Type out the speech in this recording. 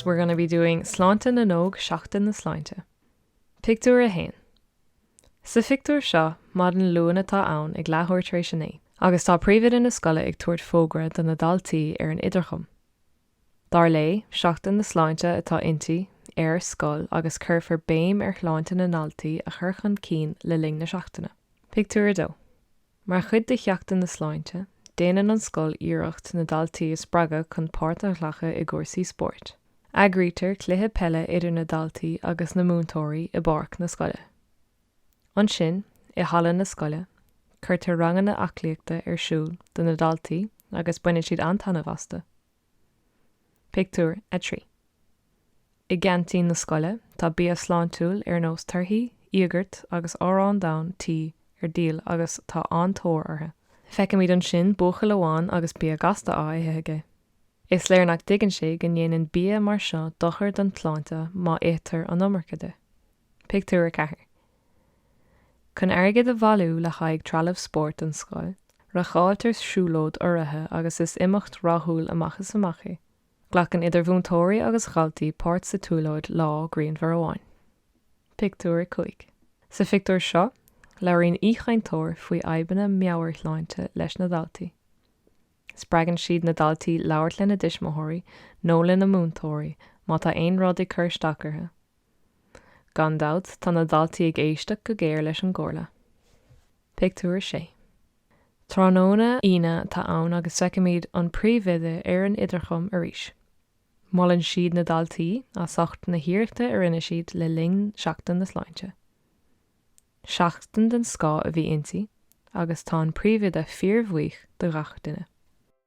We're gonna be doing Sláinte na nÓg, Seachtain na Sláinte. Pictiúr 1 Sa phictiúr seo, maidin Luain atá ann ag leathuair tar éis a naoi agus tá príomhoide na scoile ag tabhairt fógra do na daltaí ar an idirchum. Dar léi, Seachtain na Sláinte atá inti, ar scoil agus cuirfear béim ar shláinte na ndaltaí a chur chun cinn le linn na seachtaine. Pictiúr 2 Mar chuid de Sheachtain na Sláinte, déanann an scoil iarracht na daltaí a spreagadh chun páirt a ghlacadh i gcúrsaí spóirt. Eagraítear cluiche peile idir na daltaí agus na múinteoirí i bpáirc na scoile. Ansin, i halla na scoile, cuirtear ranganna aclaíochta ar siúl do na daltaí agus baineann siad an-taitneamh astu. Pictiúr 3 I gceaintín na scoile, tá bia sláintiúil ar nós torthaí, íogart agus arán donn tí ar díol agus tá an-tóir orthu. Feicimid ansin buachaill amháin agus bia gasta á ithe aige. Is léir nach dtuigeann sé go ndéanann bia mar seo dochar don tsláinte má itear an iomarca de. Pictiúr 4 Chun airgead a bhailiú le haghaidh trealamh spóirt don scoil, reáchtáiltear siúlóid urraithe agus is imeacht rathúil amach is amach í. Glacann idir mhúinteoirí agus dhaltaí páirt sa tsiúlóid lá grianmhar amháin. Pictiúr 5 Sa phictiúr seo, labhraíonn aoichainteoir faoi fhadhbanna meabhairshláinte leis na daltaí. Spreagann siad na daltaí labhairt lena dtuismitheoirí nó lena múinteoirí má tá aon rud ag cur isteach orthu. Gan dabht tá na daltaí ag éisteacht go géar leis an gcomhairle. Pictiúr 6 Tráthnóna Aoine atá ann agus feicimid an príomhoide ar an idirchum arís. Molann siad na daltaí as ucht na hiarrachta a rinne siad le linn Seachtain na Sláinte. Seachtain den scoth a bhí inti agus tá an príomhoide fíorbhuíoch de gach duine.